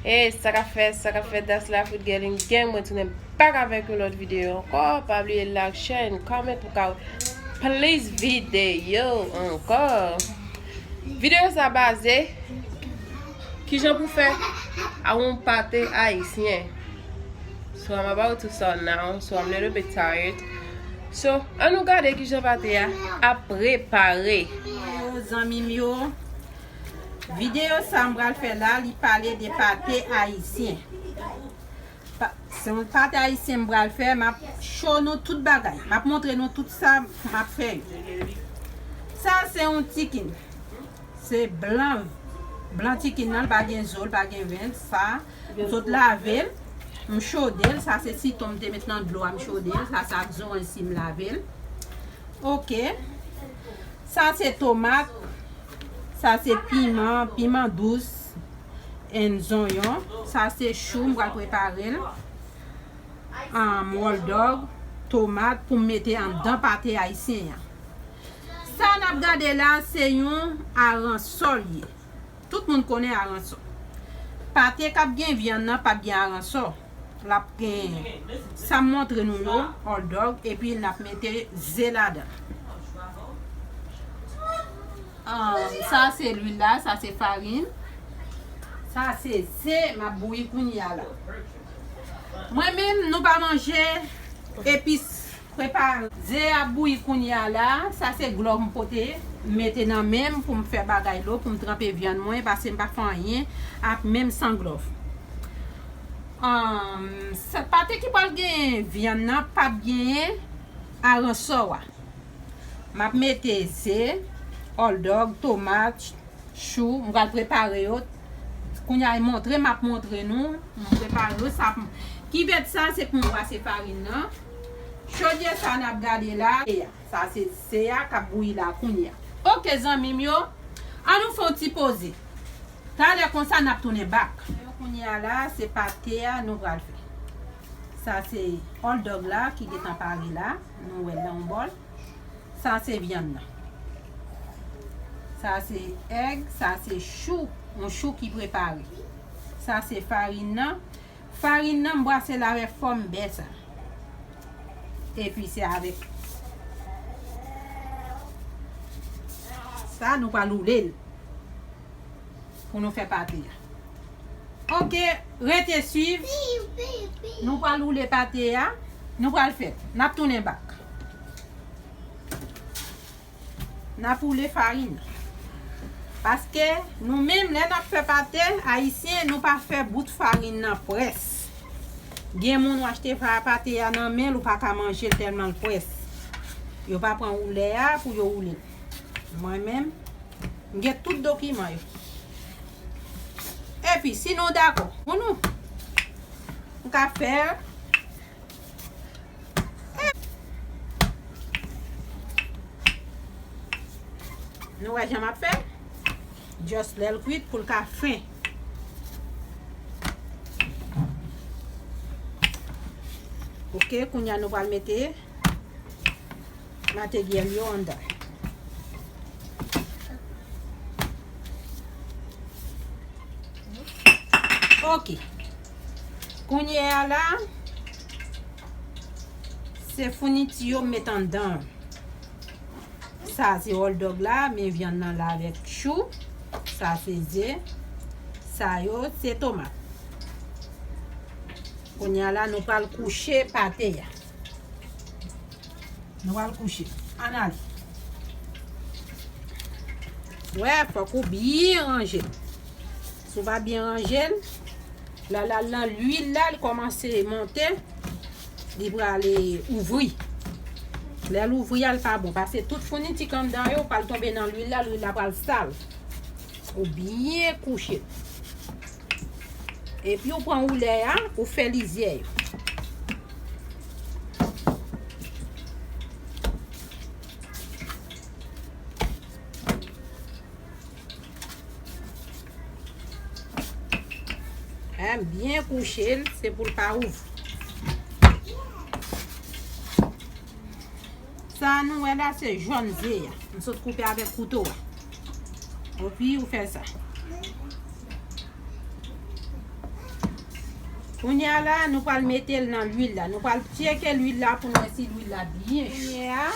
Hey sa kap fèt sa kap fèt that's life with Gelin Gang mwen tounen back avèk yon lòt videyo ankò pa bliye like share and comment pou ka plis videyo ankò videyo sa baze kijan pou fè a yon pate ayisyen so I'm about to start now so I'm little bit tired so an nou gade kijan pate a ap prepare zanmim yo Video sa m pral fè la li pale de pate ayisyen se yon pate ayisyen m pral fè m ap show nou tout bagay m ap montre nou tout sa m ap fè yo sa se yon chicken se blan blan chicken nan l pa gen zo l pa gen ven sa m sot lave l m chode l sa se sitron m te met nan dlo a m chode l sa se ak zo ansi m lave l ok. Sa se tomat, sa se piman, piman dous and zonyon. Sa se chou m pral prepare l. Am wòl dòg, tomat pou m mete anndan pate ayisyen an. Sa n ap gade la se yon aransò l ye. Tout moun konnen aransò. Pate kap gen vyann nan pap gen aransò. Lap gen sam montre nou yo, hot dog epi nap mete ze ladan. Sa se lwil la, sa se farin. Sa se ze map bouyi kounya la. Mwen menm nou pa manje epis. Prepare. Ze a ap bouyi kounye a la. Sa se glò m pote mete nan men m pou m fè bagay lo pou m tranpe vyann mwen pase m pa fè anyen ak menm san glò. Humm pate ki pral gen vyann nan pap genyen aransò a. M ap mete ze, òldòg, tomat, chou m pral prepare yo kounye a e montre m ap montre nou m prepare yo sa kivèt sa se pou m brase farin nan. Chodyè sa nap gade la. Sa se se a kap bouyi la kounya. Ok zanmim yo An nou fon ti poze Talè konsa nap tounen back. Kounya la se pate a nou pral fè. Sa se Hot dog la ki gentan pare la. Nou wèl nan yon bòl. Sa se vyann nan. Sa se egg, sa se chou. Yon chou ki prepare. Sa se farin nan. Farine nan m brase l avè fòm bè sa. Epi se avè sa nou pral woule l pou nou fè pate a. Ok rete swiv nou pral woule pate a nou pral fè nap tounen bak. Nap woule farin. Paske nou menm lè nap fè pate ayisyen nou pa fè bout farin nan près. Gen moun w achte pate a nan men l ou pa ka manje l tèlman l près. Yo pa pran woulè a pou yo woule l. Mwen menm m gen tout dokiman yo. Epi si nou dakò pou nou m ka fè l. Nou wè jan map fè? Just lèl kwit poul ka fen. Ok, kounya nou pral mete materyèl yo andan. Ok. Kounya la. Se founiti yo m met anndan. Sa se hotdog la, men vyann nan la avèk chou. Sa se ze. Sa yo se tomat. Kounye a la nou pral kouche pate a. Nou pral kouche. An ale. Wè, fòk ou byen ranje. Si w pa byen ranje l, la la la lwil la l kòmanse monte, li pral e, ouvri. Lè l ouvri a l pa bon pase tout founiti k anndan yo pral tonbe nan lwil la, lwil la pral sal. Ou byen kouche l. Epi ou pran woulè a, ou fè lizyè yo. Hein, byen kouche l, se pou l pa ouvri. Sa a nou wè la se jòn ze a. M sot koupe avèk kouto a. Epi ou fè sa. Kounye a la, nou pral mete l nan lwil la. Nou pral tyeke lwil la pou nou wè si lwil la byen cho.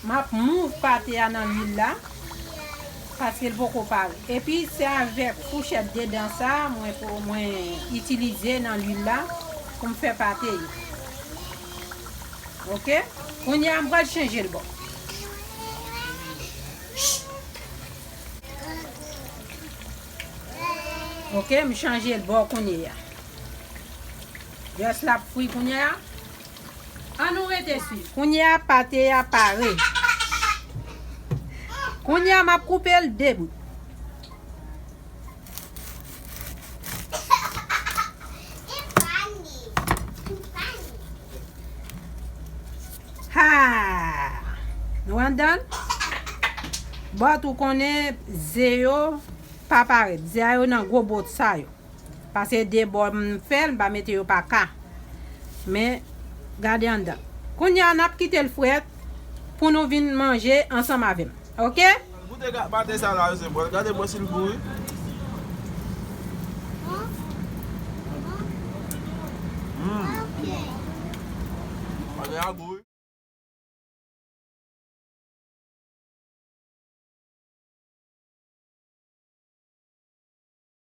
Map move pate a nan lwil la paskel poko pare epi se avèk fouchèt 2 dan sa mwen mwen itilize nan lwil la poum fè pate yo ok kounya mpral chenjel bò. Ok m chanjel bò kounyeya just lap fri kounyeya An nou rete swiv. Kounye a pate a pare. Kounye a map koupe l 2 bout. Haa! Nou andan? Bòt ou konnen ze yo pa parèt. Ze a yo nan gwo bòt sa yo. Pase de bò m fèl m pa mete yo pa ka men gade anndan kounya nap kitel frèt pou nou vin manje ansanm avèm ok. Goute gad pate sa la se bon gade mwen sil gou wi.